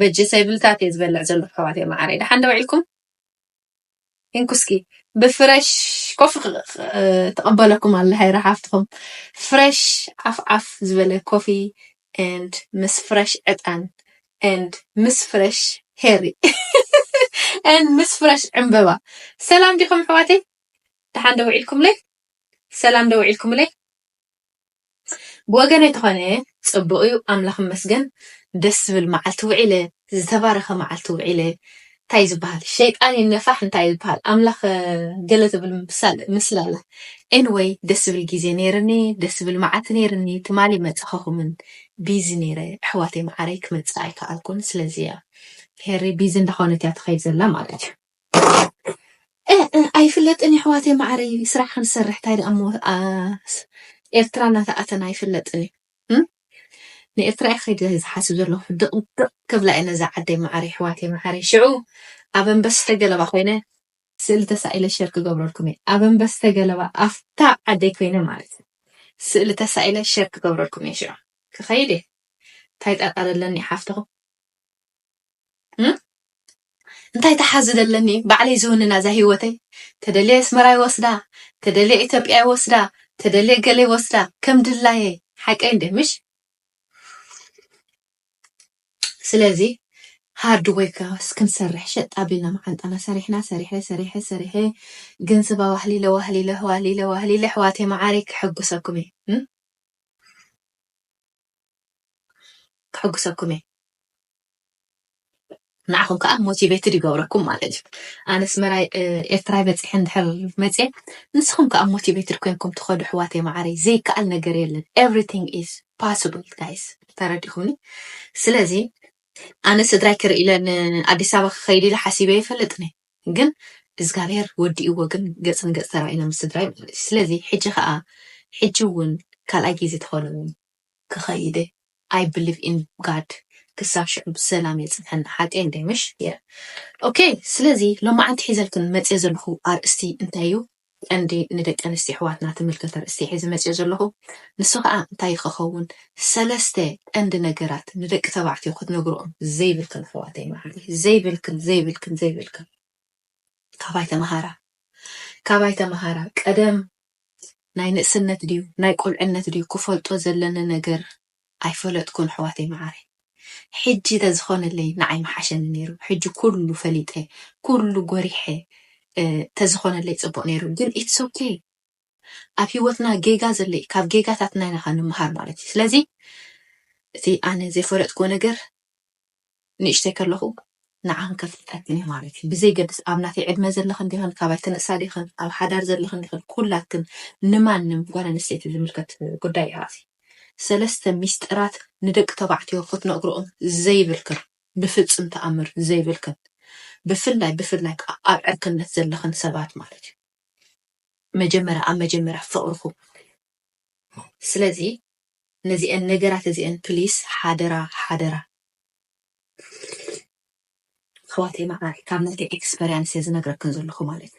በጂ ሰይብልታት እየ ዝበልዕ ዘለኩ ኣሕዋተይ ማዓረይ ዳሓን ዶ ውዒልኩም እንኩ እስኪ ብፍረሽ ኮፊ ትቀበለኩም ኣላ ሃይረ ሓፍትኩም ፍረሽ ዓፍ ዓፍ ዝበለ ኮፊ ኤንድ ምስ ፍረሽ ዕጣን ኤንድ ምስ ፍረሽ ሄሪ ኤንድ ምስ ፍረሽ ዕምበባ ሰላም ዲኹም ኣሕዋተይ ደሓን ዶ ውዒልኩምለይ ሰላም ዶ ውዒልኩምለይ ብወገነይ ተኾነ ጽቡቅ ዩ ኣምላኽ ይመስገን ደስ ዝብል መዓልቲ ውዒለ ዝተባረኸ መዓልቲ ውዒለ ታይ ዩ ዝብሃል ሸይጣን ይነፋሕ እንታይ ዩ ዝብሃል ኣምላኽ ገለ ትብል ምስላ ኣላ Anyway ደስ ዝብል ግዜ ነይርኒ ደስ ዝብል መዓልቲ ነይርኒ ትማሊ ኣይመጻኹኹምን ቢዚ ነይረ ኣሕዋተይ መዓረይ ክመጽእ ኣይከኣልኩን ስለዚ ያ ሄሪ ቢዚ እንዳኾነት እያ ትኸይድ ዘላ ማለት ዩ። እእእ ኣይፍለጥን የሕዋተይ ማዓረይ ስራሕ ክንሰርሕ ታይ ድኣ እሞ ኤርትራ እናተኣተና ኣይፍለጥን እዩ እም ንኤርትራ እየ ከይደ ዝሓስብ ዘለኩ ድቅ ድቅ ክብላ እየ ነዛ ዓደይ ማዓረይ የሕዋተይ ማዓረይ ሽዑ ኣብ ኣንበስተ ገለባ ኮይነ ስእሊ ተሳኢለ ሸር ክገብረልኩም እየ ኣብ ኣንበስተ ገለባ ኣፍታ ዓደይ ኮይነ ማለት እዩ ስእሊ ተሳኢለ ሸር ክገብረልኩም እየ ሽዑ ክከይድ እየ ታይ ጠርጠር ኣለኒ ሓፍትኩም። እንታይ ተሓዝ ዘለኒ ባዕለይ ዝውንና እዛ ሂወተይ ተደልየ ኣስመራ ይወስዳ ተደልየ ኢትዮጵያ ይወስዳ ተደልየ ገለ ይወስዳ ከም ድላየይ ሓቀይ እንደ ምሽ ስለዚ ሃርድ ወይካ ክንሰርሕ ሸጥ ኣቢልና መዓንጣና ሰሪሕና ሰሪሐ ሰሪሐ ሰሪሐ ገንዘብ ኣዋህሊለ ዋህሊለ ዋህሊለ ዋህሊለ ኣሕዋተይ መዓረይ ክሕጉሰኩም እየ ከሕጉሰኩም እየ ንዓኹም ከዓ ሞቲቬትድ ይገብረኩም ማለት እዩ ኣነ ኣስመራይ ኤርትራይ በፂሐ እንድሕር መፅየ ንስኹም ከዓ ሞቲቬትድ ኮይንኩም ትኸዱ ኣሕዋተይ መዓረይ ዘይከኣል ነገር የለን ኤቭሪቲንግ ኢዝ ፓስብል ጋይስ ተረዲኹምኒ ስለዚ ኣነ ስድራይ ክርኢ ኢለ ንኣዲስ ኣበባ ክኸይድ ኢለ ሓሲበ ይፈልጥኒ ግን እዝጋብሄር ወዲእዎ ግን ገጽ ንገጽ ተራኢና ምስ ስድራይ ማለት እዩ ስለዚ ሕጂ ከኣ ሕጂ ውን ካልኣይ ግዜ ተኮነውን ክከይድ እየ ኣይ ብሊቭ ኢን ጋድ ክሳብ ሽዑ ብሰላም የጽንሐና ሓቀይ እንድየ ምሽ የእ ኦኬ ስለዚ ሎማዓንቲ ሒዘልክን መጽየ ዘለኩ ኣርእስቲ እንታይ እዩ ቀንዲ ንደቂ ኣንስትዮ ኣሕዋትና ትምልከት ኣርእስቲ ሒዘ መጺኦ ዘለኹ ንሱ ከኣ እንታይ ከኸውን ሰለስተ ቀንዲ ነገራት ንደቂ ተባዕትዮ ክትነግርኦም ዘይብልክን ኣሕዋተይ መዓረይ ዘይብልክን ዘይብልክን ዘይብልክን ካባይ ተመሃራ ካባይ ተመሃራ ቀደም ናይ ንእስነት ድዩ ናይ ቁልዕነት ድዩ ክፈልጦ ዘለኒ ነገር ኣይፈለጥኩን ኣሕዋተይ መዓረይ ሕጂ ተዝኾነለይ ንዓይ ምሓሸኒ ነይሩ ሕጂ ኩሉ ፈሊጠ ኩሉ ጎሪሐ ተዝኾነለይ ጽቡቅ ነይሩ ግን ኢትስ ኦኬ ኣብ ሂወትና ጌጋ ዘሎ እዩ ካብ ጌጋታትና ኢና ከ ንምሃር ማለት እዩ ስለዚ እቲ ኣነ ዘይፈለጥክዎ ነገር ንእሽተይ ከለኹ ንዓንከፍ ፈትኒ ማለት እዩ ብዘይገድስ ኣብ ናተይ ዕድመ ዘለኽን ዲኽን ካባይ ትንእሳ ዲኽን ኣብ ሓዳር ዘለኽን ዲኽን ኩላትክን ንማንም ጓል ኣንስተይቲ ዝምልከት ጉዳይ እዩ ኣዚ ሰለስተ ሚስጥራት ንደቂ ተባዕትዮ ክትነግርኦም ዘይብልክን ብፍጽም ተኣምር ዘይብልክን ብፍላይ ብፍላይ ከኣ ኣብ ዕርክነት ዘለኽን ሰባት ማለት እዩ መጀመርያ ኣብ መጀመርያ ፍቕርኹም ስለዚ ነዚኤን ነገራት እዚኤን ፕሊስ ሓደራ ሓደራ። ኣሕዋተይ መዓረይ ካብ ናተይ ኤክስፐርያንስ እየ ዝነግረክን ዘለኹ ማለት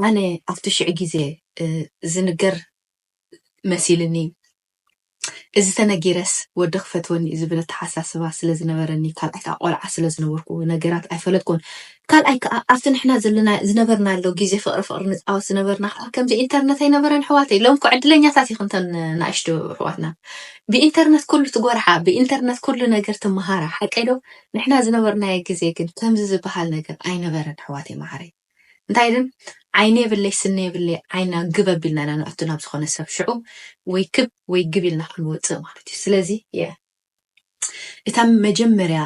ኣነ ኣብቲ ሽዕ ግዜ ዝንገር መሲልኒ እዚ ተነጊረስ ወዲ ክፈትወኒ እዩ ዝብል ኣተሓሳስባ ስለ ዝነበረኒ ካልኣይ ከኣ ቆልዓ ስለ ዝነበርኩ ነገራት ኣይፈለጥኩን ካልኣይ ከኣ ኣብቲ ንሕና ዘለና ዝነበርናሎ ግዜ ፍቅሪ ፍቅሪ ንጻወት ዝነበርና ከኣ ከምዚ ኢንተርነት ኣይነበረን ኣሕዋተይ ሎም እኮ ዕድለኛታት ኢኹም ተን ንኣሽቱ ኣሕዋትና ብኢንተርነት ኩሉ ትጎርሓ ብኢንተርነት ኩሉ ነገር ትመሃራ ሓቀይ ዶ ንሕና ዝነበርናዮ ግዜ ግን ከምዚ ዝበሃል ነገር ኣይነበረን ኣሕዋተይ መዓረይ እንታይ ድም ዓይኒ የብለይ ስኒ የብለይ ዓይንና ግብ ኣቢልና ኢና ነእቱ ናብ ዝኾነ ሰብ ሽዑ ወይ ክብ ወይ ግብ ኢልና ክንወጽእ ማለት እዩ ስለዚ እታ መጀመርያ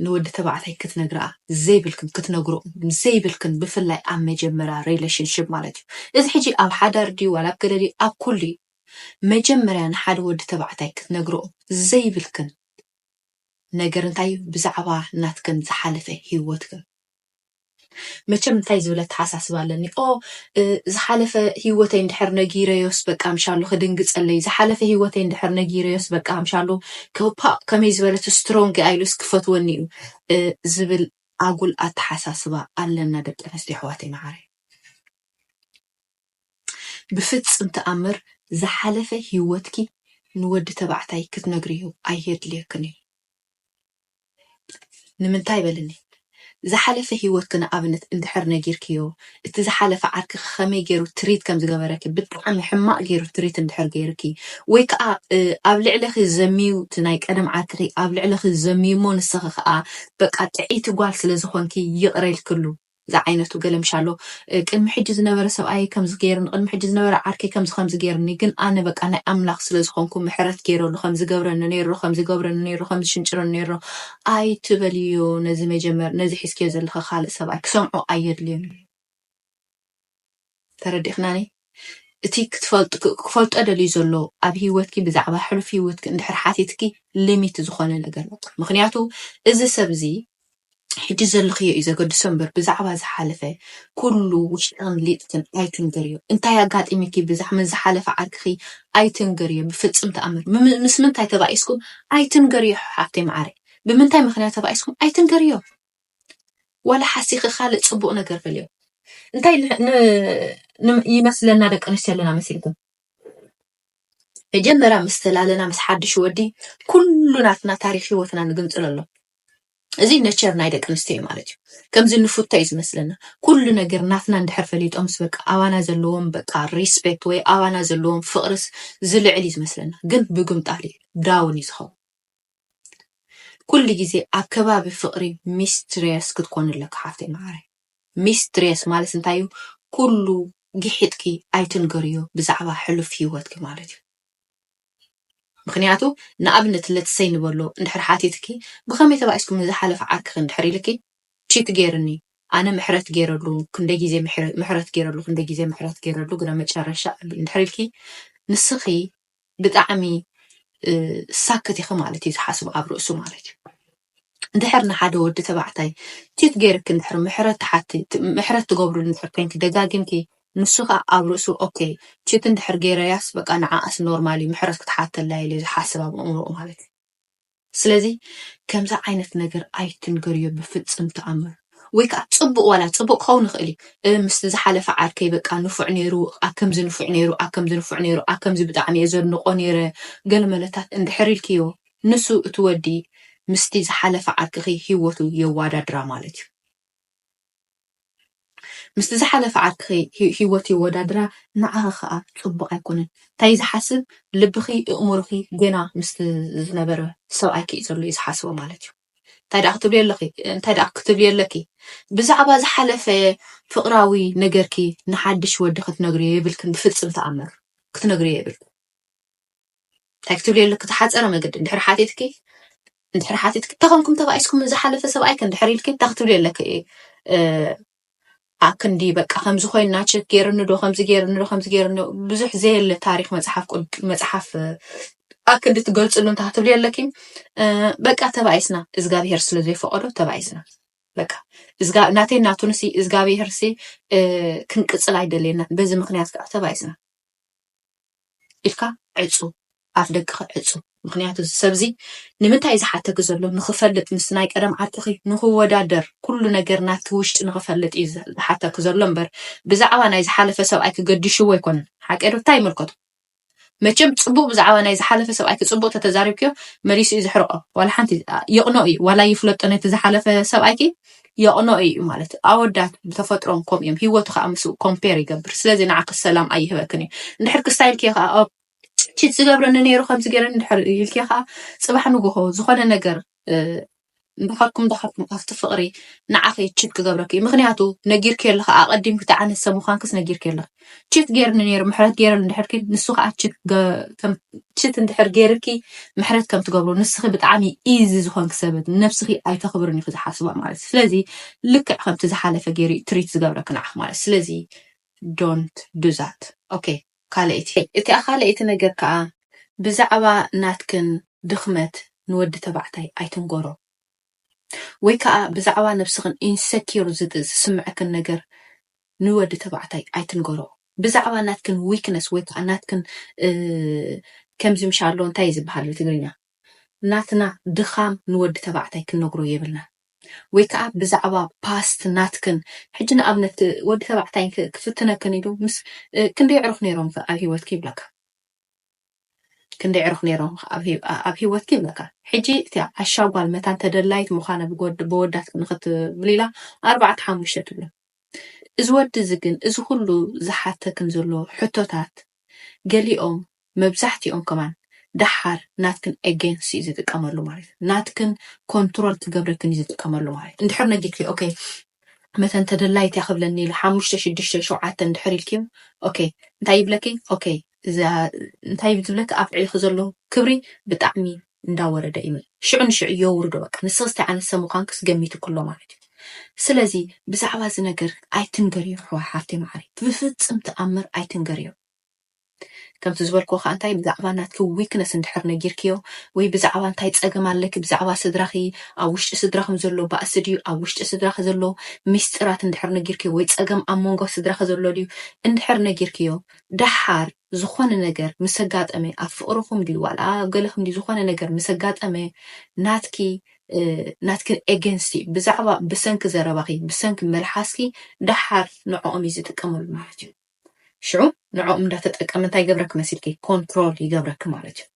ንወዲ ተባዕታይ ክትነግርኣ ዘይብልክን ክትነግሮ ዘይብልክን ብፍላይ ኣብ መጀመርያ ሪሌሽንሽፕ ማለት እዩ እዚ ሕጂ ኣብ ሓዳር ድዩ ዋላ ኣብ ገለ ድዩ ኣብ ኩሉ እዩ መጀመርያ ንሓደ ወዲ ተባዕታይ ክትነግርኦ ዘይብልክን ነገር እንታይ እዩ ብዛዕባ ናትክን ዝሓለፈ ሂወትክን መቸም እንታይ ዝብል ኣተሓሳስባ ኣለኒ ኦ ዝሓለፈ ሂወተይ እንድሕር ነጊረዮስ በቃ ኣምሻሉ ክድንግጸለይ ዝሓለፈ ሂወተይ እንድሕር ነጊረዮስ በቃ ኣምሻሉ ፓእ ከመይ ዝበለት ስትሮንግ እያ ኢሉስ ክፈትወኒ እዩ ዝብል ኣጉል ኣተሓሳስባ ኣለና ደቂ ኣንስትዮ ኣሕዋተይ መዓረይ ብፍጽም ተኣምር ዝሓለፈ ሂወትኪ ንወዲ ተባዕታይ ክትነግርዮ ኣይየድልየክን እዩ ንምንታይ በልኒ ዝሓለፈ ሂወትኪ ንኣብነት እንድሕር ነጊርክዮ እቲ ዝሓለፈ ዓርክኪ ከመይ ጌሩ ትሪት ከም ዝገበረኪ ብጣዕሚ ሕማቅ ጌሩ ትሪት እንድሕር ጌሩኪ ወይ ከኣ ኣብ ልዕሊኪ ዘምዩ እቲ ናይ ቀደም ዓርክኪ ኣብ ልዕሊኪ ዘምዩሞ ንስኪ ከኣ በቃ ጥዕይቲ ጓል ስለ ዝኮንኪ ይቅረ ኢልክሉ ዝዓይነቱ ገለምሻ ኣሎ ቅድሚ ሕጂ ዝነበረ ሰብኣየይ ከምዚ ገይርኒ ቅድሚ ሕጂ ዝነበረ ዓርከይ ከምዚ ከምዚ ገይርኒ ግን ኣነ በቃ ናይ ኣምላኽ ስለ ዝኾንኩ ምሕረት ገይረሉ ከምዚ ዝገብረኒ ነይሮ ከምዚ ዝገብረኒ ነይሮ ከምዚ ዝሽንጭረኒ ነይሮ ኣይትበልዮ ነዚ መጀመር ነዚ ሒዝክዮ ዘለኺ ካልእ ሰብኣይ ክሰምዖ ኣየድልዮን እዩ። ተረዲእክናኒ እቲ ክትፈልጥ ክፈልጦ ደልዩ ዘሎ ኣብ ሂወትኪ ብዛዕባ ሕሉፍ ሂወትኪ እንድሕር ሓቲትኪ ሊሚት ዝኾነ ነገር በቃ ምኽንያቱ እዚ ሰብ እዚ ሕጂ ዘለኽዮ እዩ ዘገድሶ እምበር ብዛዕባ ዝሓለፈ ኩሉ ውሽጥን ሊጥክን ኣይትንገርዮ እንታይ ኣጋጢሚኪ ብዛዕ ምስ ዝሓለፈ ዓርክኺ ኣይትንገርዮ ብፍጽም ተኣምር ምስ ምንታይ ተባኢስኩም ኣይትንገርዮ ሓፍተይ መዓረይ ብምንታይ ምኽንያት ተባኢስኩም ኣይትንገርዮ ዋላ ሓሲኺ ካልእ ፅቡቅ ነገር በልዮ እንታይ ይመስለና ደቂ ኣንስትዮ ኣለና መሲልኩም መጀመርያ ምስ ተላለና ምስ ሓድሽ ወዲ ኩሉ ናትና ታሪክ ሂወትና ንግንፅሎ ኣሎ እዚ ነቸር ናይ ደቂ ኣንስትዮ እዩ ማለት እዩ ከምዚ ንፉቶ እዩ ዝመስለና ኩሉ ነገር ናትና እንድሕር ፈሊጦምስ በቃ ኣባና ዘለዎም በቃ ሪስፔክት ወይ ኣባና ዘለዎም ፍቅርስ ዝልዕል እዩ ዝመስለና ግን ብግምጣል እዩ ዳውን እዩ ዝኸውን ኩሉ ግዜ ኣብ ከባቢ ፍቅሪ ሚስትሬስ ክትኮኒ ኣለኪ ሓፍተይ ማዓረይ ሚስትሬስ ማለት እንታይ እዩ ኩሉ ጊሒጥኪ ኣይትንገርዮ ብዛዕባ ሕሉፍ ሂወትኪ ማለት እዩ ምክንያቱ ንኣብነት let say ንበሎ እንድሕር ሓቲትኪ ብከመይ ተባኢስኩም ንዝሓለፈ ዓርክኪ እንድሕር ኢልኪ ቺት ጌርኒ ኣነ ምሕረት ጌረሉ ክንደይ ግዜ ምሕረት ጌረሉ ክንደይ ግዜ ምሕረት ጌረሉ ግና መጨረሻ እንድሕር ኢልኪ ንስኪ ብጣዕሚ ሳክት ኢኪ ማለት እዩ ዝሓስብ ኣብ ርእሱ ማለት እዩ እንድሕር ንሓደ ወዲ ተባዕታይ ቺት ገይርኪ እንድሕር ምሕረት ትሓቲ ምሕረት ትገብርሉ እንድሕር ኮንኪ ደጋጊምኪ ንሱ ከዓ ኣብ ርእሱ ኦኬ ቺት እንድሕር ገይረያስ በቃ ንዓኣስ ኖርማል እዩ ምሕረት ክትሓተላ ኢሉ ዝሓስብ ኣብ ኣእምሮኡ ማለት እዩ ስለዚ ከምዚ ዓይነት ነገር ኣይትንገርዮ ብፍጽም ተኣምር ወይ ከኣ ጽቡቅ ዋላ ጽቡቅ ክኸውን ይኽእል እዩ እ ምስቲ ዝሓለፈ ዓርከይ በቃ ንፉዕ ኔሩ ኣከምዚ ንፉዕ ኔሩ ኣከምዚ ንፉዕ ኔሩ ኣከምዚ ብጣዕሚ እየ ዘድንቆ ኔረ ገለመለታት እንድሕር ኢልክዮ ንሱ እቲ ወዲ ምስቲ ዝሓለፈ ዓርክኺ ሂወቱ የዋዳድራ ማለት እዩ። ምስቲ ዝሓለፈ ዓርክኺ ሂወት የወዳድራ ንዓኺ ከኣ ጽቡቅ ኣይኮነን ታይ ዝሓስብ ልብኺ እእምሮኺ ገና ምስቲ ዝነበረ ሰብኣይኪ እዩ ዘሎ እዩ ዝሓስቦ ማለት እዩ እንታይ ደኣ ክትብልዮ ኣለኺ እንታይ ደኣ ክትብልዮ ኣለኪ ብዛዕባ ዝሓለፈ ፍቅራዊ ነገርኪ ንሓድሽ ወዲ ክትነግርዮ የብልክን ብፍጽም ተኣምር ክትነግርዮ የብልክን እንታይ ክትብሊ ኣለኪ ተሓፀረ መገዲ እንድሕር ሓቲትኪ እንድሕር ሓቲትኪ ተኾንኩም ተባኢስኩም ዝሓለፈ ሰብኣይከ እንድሕር ኢልኪ እንታይ ክትብሊ ኣለኪ ኣክንዲ በቃ ከምዚ ኮይና ቸክ ገይርኒ ዶ ከምዚ ገይርኒ ዶ ከምዚ ገይርኒ ብዙሕ ዘየለ ታሪክ መፅሓፍ መፅሓፍ ኣክንዲ ትገልፅሉ እንታይ ክትብሊ ኣለኪ በቃ ተባኢስና እግዚኣብሄር ስለ ዘይፈቀዶ ተባኢስና በቃ ናተይ ናቱንሲ እግዚኣብሄርሲ ክንቅፅል ኣይደልየና በዚ ምክንያት ከዓ ተባኢስና ኢልካ ዕጹ ኣፍ ደቅኺ ዕጹ ምኽንያቱ እዚ ሰብ እዚ ንምንታይ ዝሓተኪ ዘሎ ንኽፈልጥ ምስ ናይ ቀደም ዓርክኺ ንኽወዳደር ኩሉ ነገር ናትኪ ውሽጢ ንኽፈልጥ እዩ ዝሓተኪ ዘሎ እምበር ብዛዕባ ናይ ዝሓለፈ ሰብኣይኪ ገዲሽዎ ኣይኮነን ሓቀይ ዶ እንታይ ይምልከቶ መቸም ጽቡቅ ብዛዕባ ናይ ዝሓለፈ ሰብኣይኪ ጽቡቅ ተተዛሪብክዮ መሊሱ እዩ ዝሕርቆ ዋላ ሓንቲ የቅኖ እዩ ዋላ ይፍለጦ ነቲ ዝሓለፈ ሰብኣይኪ የቕንኦ ኢዩ ማለት እዩ። ኣወዳት ብተፈጥሮም ከምኡ እዮም፣ ሂወቱ ከኣ ምስኡ ኮምፔር ይገብር። ስለዚ ንዓኺ ሰላም ኣይህበክን እዩ። እንድሕር ክስታይ ኢልክዮ ከኣ ኦ ቺት ዝገብረኒ ነይሩ ከምዚ ገይረኒ እንድሕር ኢልክዮ ከኣ ጽባሕ ንግሆ ዝኾነ ነገር እ፣ እንዳኸርኩም እንዳኸርኩም ኣብቲ ፍቕሪ ንዓኺ ቺት ክገብረኪ እዩ። ምኽንያቱ ነጊርክዮ ኣለኺ፣ ኣቐዲምኪ እቲ ዓይነት ሰብ ምዃንክስ ነጊርክዮ ኣለኺ። ችት ጌርኒ ነይሩ ምሕረት ጌረሉ እንድሕር ኪ ንሱ ከዓ ችት እንድሕር ጌርኪ ምሕረት ከም ትገብሮ ንስኺ ብጣዕሚ ኢዚ ዝኾንኪ ሰበት ነብስኺ ኣይተኽብርን ኢኹ ዝሓስባ ማለት ስለዚ ልክዕ ከምቲ ዝሓለፈ ጌሩ ትሪት ዝገብረኪ ንዓኺ ማለት ስለዚ ዶንት ዱዛት ኦኬ ካልኣይቲ እቲኣ ካልኣይቲ ነገር ከዓ ብዛዕባ ናትክን ድኽመት ንወዲ ተባዕታይ ኣይትንገሮ ወይ ከኣ ብዛዕባ ነብስኽን ኢንሰክዩር ዝስምዐክን ነገር ንወዲ ተባዕታይ ኣይትንገሮ። ብዛዕባ ናትክን ዊክነስ ወይ ከኣ ናትክን ከምዚ ምሽ ኣሎ እንታይ እዩ ዝበሃል ብትግርኛ ናትና ድኻም ንወዲ ተባዕታይ ክንነግሮ የብልናን። ወይ ከኣ ብዛዕባ ፓስት ናትክን ሕጂ ንኣብነት ወዲ ተባዕታይ ክፍትነክን ኢሉ ምስ ክንደይ ኣዕሩኽ ኔሮምክ ኣብ ሂወትክ ይብለካ። ክንደይ ዕሩኽ ነይሮም ኣብ ሂወትኪ ይብለካ ሕጂ እቲ ዓሻ ጓል መታን ተደላይት ምዃና ብወዳት ንኽትብሊ ኢላ ኣርባዕተ ሓሙሽተ ትብሎ እዚ ወዲ እዚ ግን እዚ ኩሉ ዝሓተክን ዘሎ ሕቶታት ገሊኦም መብዛሕቲኦም ከማን ደሓር ናትክን ኤጌንስ እዩ ዝጥቀመሉ ማለት ናትክን ኮንትሮል ክገብረክን እዩ ዝጥቀመሉ ማለት እንድሕር ነጊርኪ ኦኬ መተን ተደላይት እያ ክብለኒ ኢሉ ሓሙሽተ ሽዱሽተ ሸውዓተ እንድሕር ኢልክዮ ኦኬ እንታይ ይብለኪ ኦኬ እዛ እንታይ እዩ ዝብለኪ ኣፍዕልኪ ዘሎ ክብሪ ብጣዕሚ እንዳወረደ እዩ ሽዑ ንሽዑ የውርዶ በቃ ንስክስ እንታይ ዓይነት ሰብ ምኳንክስ ገሚቱ ክሎ ማለት እዩ ስለዚ ብዛዕባ እዚ ነገር ኣይትንገርዮ ኣሕዋሓፍተይ መዓረይ ብፍፅም ተኣምር ኣይትንገርዮ። ከምቲ ዝበልክዎ ከኣ እንታይ ብዛዕባ ናትኪ ዊክነስ እንድሕር ነጊርክዮ ወይ ብዛዕባ እንታይ ጸገም ኣለኪ ብዛዕባ ስድራኺ ኣብ ውሽጢ ስድራኹም ዘሎ ባእሲ ድዩ ኣብ ውሽጢ ስድራኺ ዘሎ ሚስጢራት እንድሕር ነጊርክዮ ወይ ጸገም ኣብ መንጎ ስድራኺ ዘሎ ድዩ እንድሕር ነጊርክዮ ደሓር ዝኾነ ነገር ምስ ኣጋጠመ ኣብ ፍቕርኹም ድዩ ዋላ ኣብ ገለኹም ድዩ ዝኾነ ነገር ምስ ኣጋጠመ ናትኪ ናትኪ ኤገንስቲ እዩ ብዛዕባ ብሰንኪ ዘረባኺ ብሰንኪ መልሓስኪ ደሓር ንዕኦም እዩ ዝጥቀመሉ ማለት እዩ ሽዑ ንዕኦም እንዳተጠቀመ እንታይ ይገብረኪ መሲልኪ ኮንትሮል ይገብረኪ ማለት እዩ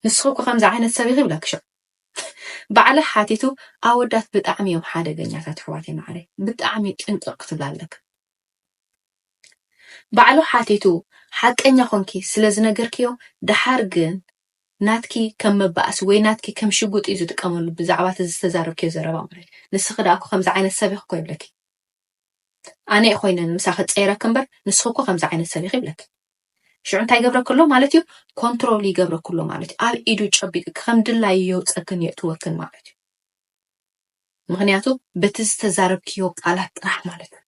ንስኺ እኮ ከምዚ ዓይነት ሰብ ኢኺ ይብለኪ ሽዑ ባዕለ ሓቲቱ ኣወዳት ብጣዕሚ እዮም ሓደገኛታት ኣሕዋት ማዕረይ ብጣዕሚ ጥንቅቕ ክትብል ኣለኪ ባዕሉ ሓቲቱ ሓቀኛ ኮንኪ ስለ ዝነገርክዮ ደሓር ግን ናትኪ ከም መባእሲ ወይ ናትኪ ከም ሽጉጥ እዩ ዝጥቀመሉ ብዛዕባ እቲ ዝተዛረብክዮ ዘረባ ማለት ንስኺ ደኣ እኮ ከምዚ ዓይነት ሰብ ኢኺ እኮ ይብለኪ ኣነ'የ ኮይነ ምሳኺ ዝጸይረኪ እምበር ንስኺ እኮ ከምዚ ዓይነት ሰብ ኢኺ ይብለኪ። ሽዑ እንታይ ይገብረኪ ኣሎ ማለት እዩ? ኮንትሮል ይገብረኪ ኣሎ ማለት እዩ። ኣብ ኢዱ ጨቢጥኪ ከም ድላዩ የውጸክን የእትወክን ማለት እዩ። ምክንያቱ በቲ ዝተዛረብክዮ ቃላት ጥራሕ ማለት እዩ።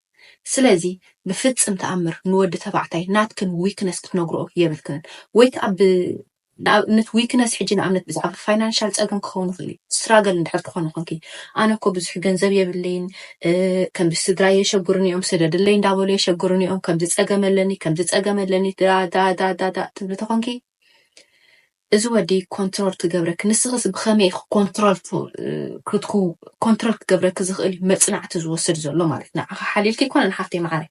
ስለዚ ብፍጽም ተኣምር ንወዲ ተባዕታይ ናትክን ዊክነስ ክትነግርኦ የብልክንን ወይ ከኣ ንኣብነት ዊክነስ ሕጂ ንኣብነት ብዛዕባ ፋይናንሻል ጸገም ክኸውን ይኽእል እዩ ስትራገል እንድሕር ትኾኒ ኮንኪ ኣነ እኮ ብዙሕ ገንዘብ የብለይን ከምዚ ስድራይ የሸግሩኒ እዮም ስደድለይ እንዳበሉ የሸግሩኒ እዮም ከምዚ ጸገም ኣለኒ ከምዚ ጸገም ኣለኒ ዳዳዳዳዳ ትብሊ ተኾንኪ እዚ ወዲ ኮንትሮል ክገብረኪ ንስኽስ ብኸመይ ኮንትሮል ክትኩ ኮንትሮል ክገብረኪ ዝኽእል መጽናዕቲ ዝወስድ ዘሎ ማለት ንዓኻ ሓሊልኪ ይኮነ ንሓፍተይ መዓረይ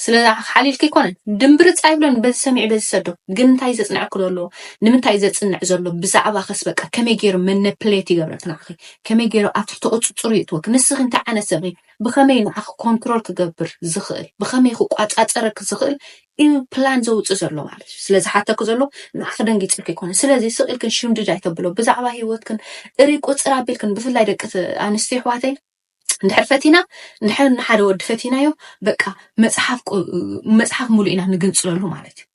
ስለ ሓሊልኪ ኣይኮነን ድምብርጽ ኣይብሎን በዚ ሰሚዑ በዚ ይሰዶ ግን እንታይ እዩ ዘጽንዐኪ ዘሎ ንምንታይ ዘጽንዕ ዘሎ ብዛዕባኺስ በቃ ከመይ ገይሩ መነፕሌት ይገብረኪ ንዓኺ ከመይ ገይሩ ኣብ ትሕቲ ቁጽጽሩ ይእትወኪ ንስኺ እንታይ ዓይነት ሰብ ብኸመይ ንዓኺ ኮንትሮል ክገብር ዝኽእል ብኸመይ ክቋጻጸረኪ ዝኽእል እዩ ፕላን ዘውጽእ ዘሎ ማለት እዩ ስለዚ ሓተኪ ዘሎ ንዓኺ ደንጊጽልኪ ይኮነ ስለዚ ስቕ ኢልክን ሽምድድ ኣይተብሎ ብዛዕባ ሂወትክን እሪ ቁጽር ኣቢልክን ብፍላይ ደቂ ኣንስትዮ ኣሕዋተይ እንድሕር ፈቲና እንድሕር ንሓደ ወዲ ፈቲናዮ በቃ መፅሓፍ መፅሓፍ ሙሉእ ኢና ንግንፅለሉ ማለት እዩ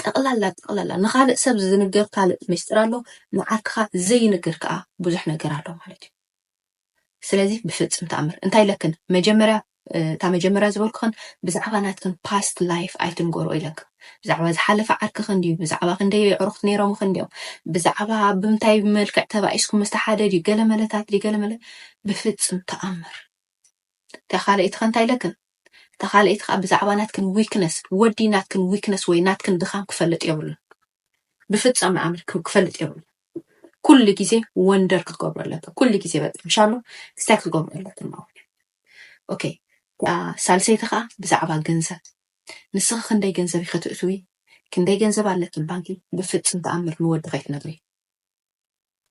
ጠቕላላ ጠቕላላ ንኻልእ ሰብ ዝንገር ካልእ ምስጢር ኣሎ፣ ንዓርክኻ ዘይንገር ከዓ ብዙሕ ነገር ኣሎ ማለት እዩ። ስለዚ ብፍፅም ተኣምር እንታይ ለክን መጀመርያ እታ መጀመርያ ዝበልኩክን ብዛዕባ ናትክን ፓስት ላይፍ ኣይትንገርኦ ኢለክን ብዛዕባ ዝሓለፈ ዓርክክን ድዩ ብዛዕባ ክንደይ የዕሩክት ነይሮምክን ድዮም ብዛዕባ ብምንታይ መልክዕ ተባኢስኩም ምስቲ ሓደ ድዩ ገለ መለታት ድዩ ገለ መለ ብፍጽም ተኣምር እታ ካልኣይቲ ከ እንታይ ኢለክን እታ ካልኣይቲ ከኣ ብዛዕባ ናትክን ዊክነስ ወዲ ናትክን ዊክነስ ወይ ናትክን ድኻም ክፈልጥ የብሉን ብፍጻመ ኣምር ክፈልጥ የብሉ ኩሉ ግዜ ወንደር ክትገብሮ ኣለካ ኩሉ ግዜ በቃ እንሻሎ ስታይ ክትገብሮ ኣለካ ማለት ኦኬ ሳልሰይቲ ከዓ ብዛዕባ ገንዘብ ንስኺ ክንደይ ገንዘብ ከተእትዊ ክንደይ ገንዘብ ኣለኪ ባንኪ ብፍጽም ተኣምር ንወዲ ከይትነግሪ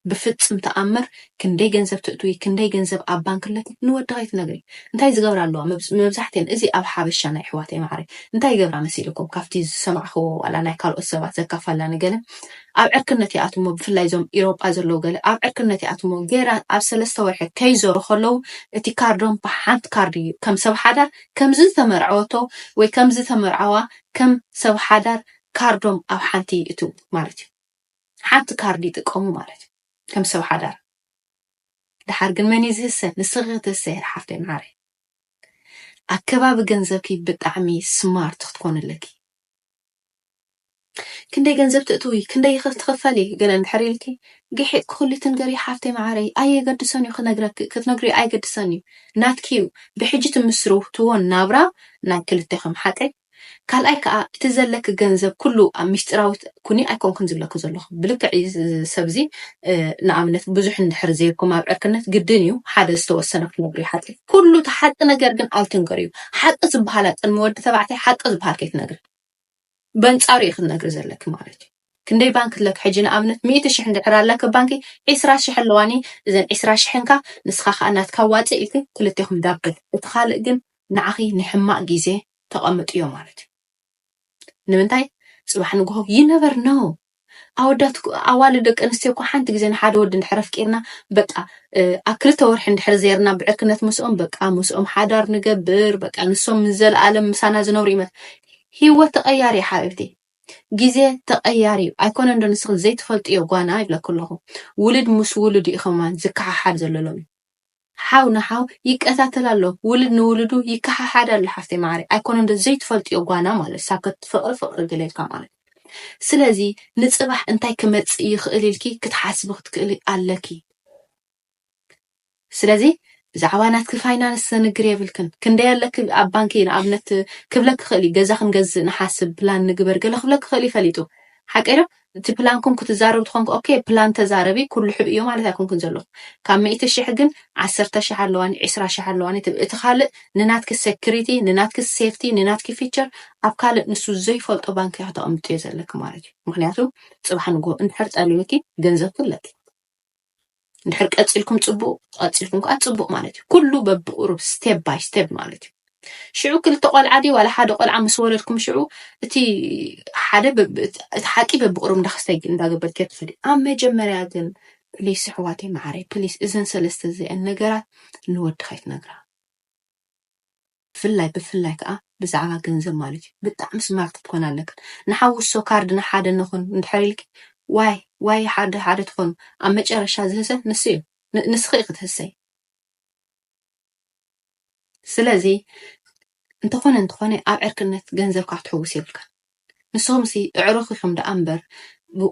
ብፍጽም ተኣምር ክንደይ ገንዘብ ትእትዊ ክንደይ ገንዘብ ኣብ ባንክ ኣለኪ ንወዲ ከይትነግሪ እንታይ ዝገብራ ኣለዋ መብዛሕትኤን እዚ ኣብ ሓበሻ ናይ ኣሕዋተይ ማዓረይ እንታይ ይገብራ መሲልኩም ካብቲ ዝሰማዕክዎ ዋላ ናይ ካልኦት ሰባት ዘካፋላ ንገለ ኣብ ዕርክነት ይኣትሞ ብፍላይ እዞም ኢሮጳ ዘለዉ ገለ ኣብ ዕርክነት ይኣትሞ ገይራ ኣብ ሰለስተ ወርሒ ከይዞሩ ከለዉ እቲ ካርዶም ብሓንቲ ካርድ እዩ ከም ሰብ ሓዳር ከምዚ ዝተመርዐወቶ ወይ ከምዚ ተመርዓዋ ከም ሰብ ሓዳር ካርዶም ኣብ ሓንቲ ይእትው ማለት እዩ ሓንቲ ካርድ ይጥቀሙ ማለት እዩ ከም ሰብ ሓዳር ድሓር ግን መን እዩ ዝህሰ ንስኺ ክትህሰይ ሓፍተይ መዓረይ ኣከባቢ ገንዘብኪ ብጣዕሚ ስማርት ክትኮን ኣለኪ ክንደይ ገንዘብ ትእትዊ ክንደይ ክትኽፈሊ ገለ እንድሕር ኢልኪ ግሒጥ ክኩሊ ትንገሪ ሓፍተይ መዓረይ ኣየገድሰን እዩ ክነግረኪ ክትነግሪ ኣይገድሰን እዩ ናትኪ እዩ ብሕጂ ትምስርትዎ ናብራ ናይ ክልቴኹም ሓቀይ ካልኣይ ከኣ እቲ ዘለኪ ገንዘብ ኩሉ ኣብ ሚስጢራዊት ኩኒ ኣይኮንክን ዝብለኪ ዘለኩ ብልክዕ እዩ ሰብ እዚ ንኣብነት ብዙሕ እንድሕር ዘይርኩም ኣብ ዕርክነት ግድን እዩ ሓደ ዝተወሰነ ክትነግርዮ ሓቂ ኩሉ እቲ ሓቂ ነገር ግን ኣይትንገርዩ ሓቂ ዝብሃል ኣቅድሚ ወዲ ተባዕታይ ሓቂ ዝብሃል ከይትነግሪ በንጻሩ እዩ ክትነግሪ ዘለኪ ማለት እዩ። ክንደይ ባንኪ ኣለኪ ሕጂ ንኣብነት ሚእቲ ሽሕ እንድሕር ኣለኪ ባንኪ ዒስራ ሽሕ ኣለዋኒ እዘን ዒስራ ሽሕን ከኣ ንስካ ከኣ ናትካ ዋጽእ ኢልኪ ክልቴኩም ዳብል እቲ ካልእ ግን ንዓኺ ንሕማቅ ግዜ ተቀምጥዮ ማለት እዩ ንምንታይ ጽባሕ ንግሆ you never know ኣወዳት ኣዋልድ ደቂ ኣንስትዮ እኮ ሓንቲ ግዜ ንሓደ ወዲ እንድሕር ኣፍቂርና በቃ ኣብ ክልተ ወርሒ እንድሕር ዜርና ብዕርክነት ምስኦም በቃ ምስኦም ሓዳር ንገብር በቃ ንሶም ንዘለኣለም ምሳና ዝነብሩ ይመት ሂወት ተቀያሪ ሓቢብቲ ግዜ ተቀያሪ እዩ ኣይኮነን ዶ ንስኪ ዘይትፈልጥዮ ጓና ይብለኪ ኣለኩ ውልድ ምስ ውሉድ እዩ ከማን ዝከሓሓድ ዘሎ ሎሚ ሓው ንሓው ይቀታተል ኣሎ ውልድ ንውሉዱ ይከሓሓድ ኣሎ ሓፍተይ ማዓረይ ኣይኮነን ዶ ዘይትፈልጥዮ ጓና ማለት ሳከት ፍቅሪ ፍቅሪ ገለ ኢልካ ማለት ስለዚ ንጽባሕ እንታይ ክመጽእ ይክእል ኢልኪ ክትሓስቢ ክትክእሊ ኣለኪ ስለዚ ብዛዕባ ናትኪ ፋይናንስ ዘንግር የብልክን። ክንደይ ኣለኪ ኣብ ባንኪ ንኣብነት ክብለኪ ክኽእል እዩ። ገዛ ክንገዝእ ንሓስብ፣ ፕላን ንግበር ገለ ክብለኪ ክኽእል እዩ ፈሊጡ። ሓቀይ ዶ? እቲ ፕላንኩም ክትዛረቡ ተኾንኩ ኦኬ ፕላን ተዛረቢ ኩሉ ሕብእ እዮ ማለት ኣይኮንኩን ዘለኹ። ካብ ሚእቲ ሽሕ ግን ዓሰርተ ሽሕ ኣለዋኒ ዕስራ ሽሕ ኣለዋኒ ትብል። እቲ ካልእ ንናትኪ ሰክሪቲ፣ ንናትኪ ሴፍቲ፣ ንናትኪ ፊቸር ኣብ ካልእ ንሱ ዘይፈልጦ ባንኪ እያ ከተቐምጥዮ ዘለኪ ማለት እዩ። ምኽንያቱ ጽባሕ ንግሆ እንድሕር ጠልዩኪ ገንዘብኪ ኣለኪ። እንድሕር ቀፂልኩም ፅቡቅ ቀፂልኩም ከዓ ፅቡቅ ማለት እዩ ኩሉ በብቁሩብ ስቴፕ ባይ ስቴፕ ማለት እዩ ሽዑ ክልተ ቆልዓ ድዩ ዋላ ሓደ ቆልዓ ምስ ወለድኩም ሽዑ እቲ ሓደ እቲ ሓቂ በብቁሩብ እንዳክስተይ እንዳገበርክ ትኸዲ ኣብ መጀመርያ ግን ፕሊስ ኣሕዋተይ መዓረይ ፕሊስ እዘን ሰለስተ እዚአን ነገራት ንወድኻ ይትነግራ ብፍላይ ብፍላይ ከኣ ብዛዕባ ገንዘብ ማለት እዩ ብጣዕሚ ስማርት ክትኮና ኣለክን ንሓውሶ ካርድ ንሓደ ንኹን እንድሕር ኢልኪ ዋይ ዋይ ሓደ ሓደ ትኾኑ ኣብ መጨረሻ ዝህሰ ንሱ እዩ ንስኺ ኢኺ ትህሰይ ስለዚ እንተኾነ እንተኾነ ኣብ ዕርክነት ገንዘብካ ክትሕውስ የብልካን ንስኹምሲ እዕሩኽ ኢኹም ደኣ እምበር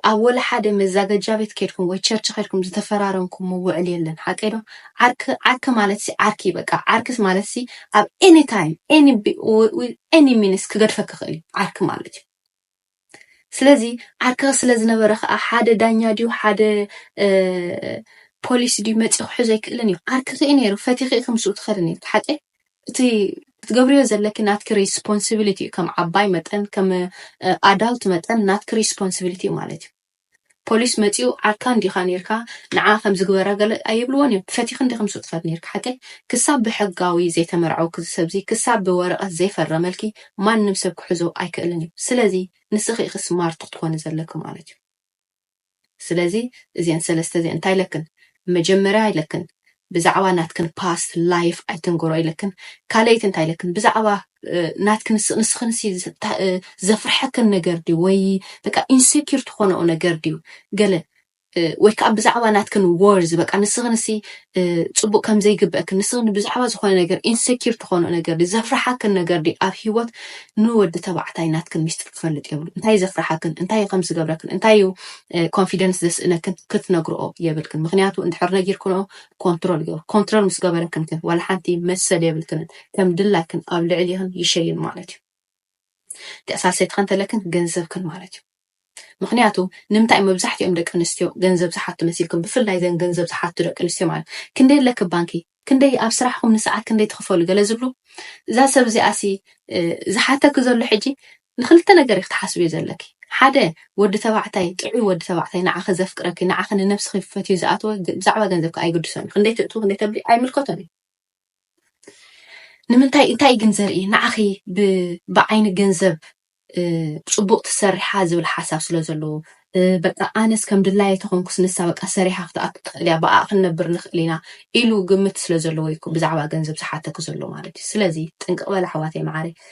ኣብ ወላሓደ መዛገጃ ቤት ኬድኩም ወይ ቸርች ኬድኩም ዝተፈራረምኩሞ ውዕል የለን ሓቀይ ዶ ዓርኪ ዓርኪ ማለትሲ ዓርኪ እዩ በቃ ዓርኪስ ማለትሲ ኣብ ኤኒ ታይም ኤኒ ኤኒ ሚኒስ ክገድፈኪ ይኽእል እዩ ዓርኪ ማለት እዩ ስለዚ ዓርኪ ስለ ዝነበረ ከዓ ሓደ ዳኛ ድዩ ሓደ ፖሊስ ድዩ መፂኡ ክሕዞ ኣይክእልን እዩ ዓርኪ ክኢ ነይሩ ፈቲኺ ኢኺ ምስኡ ትኸዲ ነይርኪ ሓቀይ እቲ ክትገብርዮ ዘለኪ ናትኪ ሪስፖንሲቢሊቲ እዩ ከም ዓባይ መጠን ከም ኣዳልት መጠን ናትኪ ሪስፖንሲቢሊቲ እዩ ማለት እዩ ፖሊስ መፂኡ ዓርካ እንዲካ ነርካ ንዓ ከም ዝግበረ ገለ ኣይብልዎን እዮም ፈቲኪ እንዲኪ ምስ ትከድ ነርካ ሓቂ ክሳብ ብሕጋዊ ዘይተመርዐውኪ ዝሰብዚ ክሳብ ብወረቀት ዘይፈረመልኪ ማንም ሰብ ክሕዞ ኣይክእልን እዩ ስለዚ ንስኪ ኢኪ ስማርት ክትኮኒ ዘለኪ ማለት እዩ ስለዚ እዚኤን ሰለስተ እዚኤን እንታይ ኢለክን መጀመርያ ኢለክን ብዛዕባ ናትክን ፓስት ላይፍ ኣይትንገሮ ኢለክን ካልኣይቲ እንታይ ኢለክን ብዛዕባ ናትክን ንስክን ዘፍርሐክን ነገር ድዩ ወይ በቃ ኢንሴኪር ትኾነኦ ነገር ድዩ ገለ ወይ ከዓ ብዛዕባ ናትክን ወርዝ በቃ ንስክን ጽቡቅ ከም ዘይግበእክን ንስክን ብዛዕባ ዝኮነ ነገር ኢንሰኪር ትኮኖ ነገር ድዩ ዘፍርሓክን ነገር ድዩ ኣብ ሂወት ንወዲ ተባዕታይ ናትክን ሚስጥር ክፈልጥ የብሉ እንታይ ዘፍርሓክን እንታይ ከም ዝገብረክን እንታይ እዩ ኮንፊደንስ ዘስእነክን ክትነግርኦ የብልክን ምክንያቱ እንድሕር ነጊርክንኦ ኮንትሮል ይገብር ኮንትሮል ምስ ገበረክን ግን ዋላ ሓንቲ መሰል የብልክንን ከም ድላይክን ኣብ ልዕሊክን ይሸይን ማለት እዩ ገሳሰይትከ እንተለክን ገንዘብክን ማለት እዩ ምክንያቱ ንምታይ መብዛሕቲኦም ደቂ ኣንስትዮ ገንዘብ ዝሓቱ መሲልኩም ብፍላይ ዘን ገንዘብ ዝሓቱ ደቂ ኣንስትዮ ማለት ክንደይ ኣለኪ ባንኪ ክንደይ ኣብ ስራሕኩም ንሰዓት ክንደይ ትክፈሉ ገለ ዝብሉ እዛ ሰብ እዚኣ ሲ ዝሓተኪ ዘሎ ሕጂ ንክልተ ነገር ኢኪ ትሓስብዮ ዘለኪ ሓደ ወዲ ተባዕታይ ጥዑይ ወዲ ተባዕታይ ንዓኺ ዘፍቅረኪ ንዓኺ ንነብስኺ ፈትዩ ዝኣተወ ብዛዕባ ገንዘብኪ ኣይግድሶን ክንደይ ትእትው ክንደይ ተብሊ ኣይምልከቶን እዩ ንምንታይ እንታይ እዩ ግን ዘርኢ ንዓኺ ብዓይኒ ገንዘብ ፅቡቅ ትሰርሓ ዝብል ሓሳብ ስለ ዘለዎ በቃ ኣነስ ከም ድላየ ተኾንኩስ ንሳ በቃ ሰሪሓ ክትኣቱ ትኽእል እያ ብኣ ክንነብር ንኽእል ኢና ኢሉ ግምት ስለ ዘለዎ እዩ ብዛዕባ ገንዘብ ዝሓተኪ ዘሎ ማለት እዩ ስለዚ ጥንቅቅ በላ ኣሕዋተይ መዓረይ